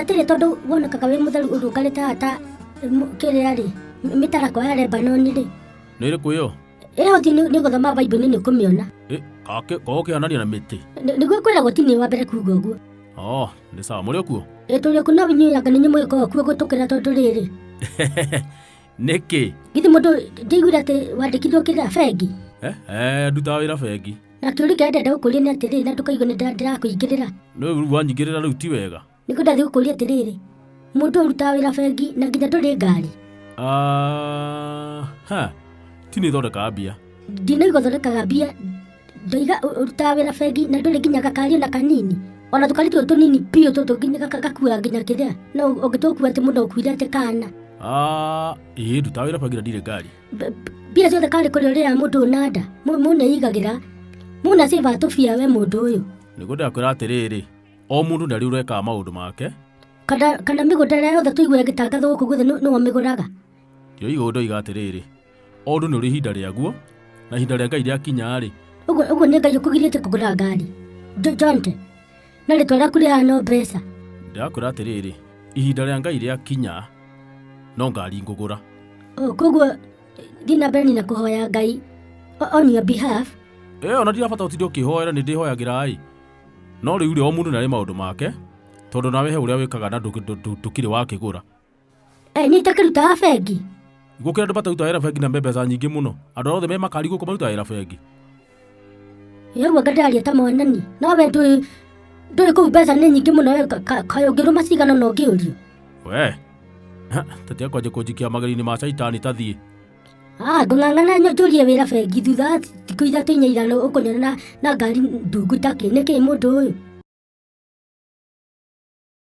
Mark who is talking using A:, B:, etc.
A: atĩrĩ tondũ wonekaga wĩ mũtheru ũrũngarĩte haha ta m- kĩrĩa rĩ m- mĩtarakwa ya lebanoni rĩ nä rä kå ä yo
B: ĩyo ũthiĩ nĩ nĩ
A: gũthoma baibuli nĩ ũkũmĩona korwo
B: kä onania na mä tä Nĩ- nĩguo kwĩragwo ti nĩ
A: wa mbere kuga ũguo o nä sawa
B: må rä o kuo ĩtũrĩ kuo no inyuĩanga
A: nĩ nyũmũgĩka ũkuo gũtũkĩra tondũ rĩrĩ
B: nä kä githĩ mũndũ
A: ndĩiguire atĩ wandĩkithio kĩrĩa bengi ndutaga
B: wä ra bengi Na kĩũria kĩrĩa ndĩrenda
A: gũkũria nĩ atĩrĩrĩ, na ndũkaigue nĩ ndĩra- ndĩrakũingĩrĩra. Nĩ rĩu wanyingĩrĩra
B: rĩu ti wega. Nĩ kũndathiĩ gũkũria atĩrĩrĩ,
A: mũndũ ũrutaga wĩra bengi na nginya ndũrĩ ngari. Ah,
B: ha, ti nĩ thondekaga mbia. Ndinaigua thondekaga
A: mbia, ndoiga ũ- ũrutaga wĩra bengi na ndũrĩ nginya gakari ona kanini. Ona tũkari tũtũ tũnini biũ tũtũ nginya gaka- gakuaga nginya kĩrĩa. No ũngĩtũkua atĩ mũndũ akuire atĩ kana. Ah,
B: ĩĩ ndutaga wĩra bengi na ndirĩ ngari. mbia ciothe
A: karĩ kũrĩ ũrĩa mũndũ ũnanda mũneigagĩra mũna ciba tũbia we mũndũ ũyũ nĩguo ndakwĩra
B: atĩrĩrĩ o mũndũ ndarĩ ũrekaga maũndũ make kana kana
A: mĩgũnda ĩrĩa yothe tũigua ĩgĩtangathwo gũkũ guothe nĩwe mĩgũraga ndio igũrũ
B: ndoiga atĩrĩrĩ o ũndũ nĩ ũrĩ ihinda rĩaguo na ihinda rĩa ngai rĩakinya-rĩ ũguo ũguo nĩ ngai
A: ũkũgirĩte kũgũra ngari njonte na rĩtwa rĩaku rĩhana no mbeca ndĩrakwĩra atĩrĩrĩ
B: ihinda rĩa ngai rĩakinya no ngari ngũgũra O, koguo
A: thiĩ na mbere na kũhoya ngai o- on your behalf ĩyo ona ndirabata
B: ũtinde ũkĩhoera nĩ ndĩhoyagĩra ĩ no rĩu rĩ o mũndũ nĩ arĩ maũndũ make tondũ nawe he ũrĩa wĩkaga na ndũkĩ- ndũ- ndũ- ndũkĩrĩ wakĩgũra Eh, nĩ
A: itakĩrutaga bengi gũkĩra andå mataruta
B: wä ra bengi na me mbeca nyingä må no andå arä othe me makari gå kå maruta wä ra bengi
A: yauga ngataria ta mwanani no we ndũĩ ndũĩ kũu mbeca nĩ nyingĩ mũno we kaĩ ũngĩrũma cigana na ũngĩũrio we
B: tete kwanjä kå njikia mageri-inĩ ma caitani tathiĩ Ah, ngũng'ang'ana
A: nyo njũrie wĩra bengi thutha wa thikũ ithatũ inya igana ũkũnyona na, na ngari ndungu itakĩ nĩkĩ mũndũ ũyũ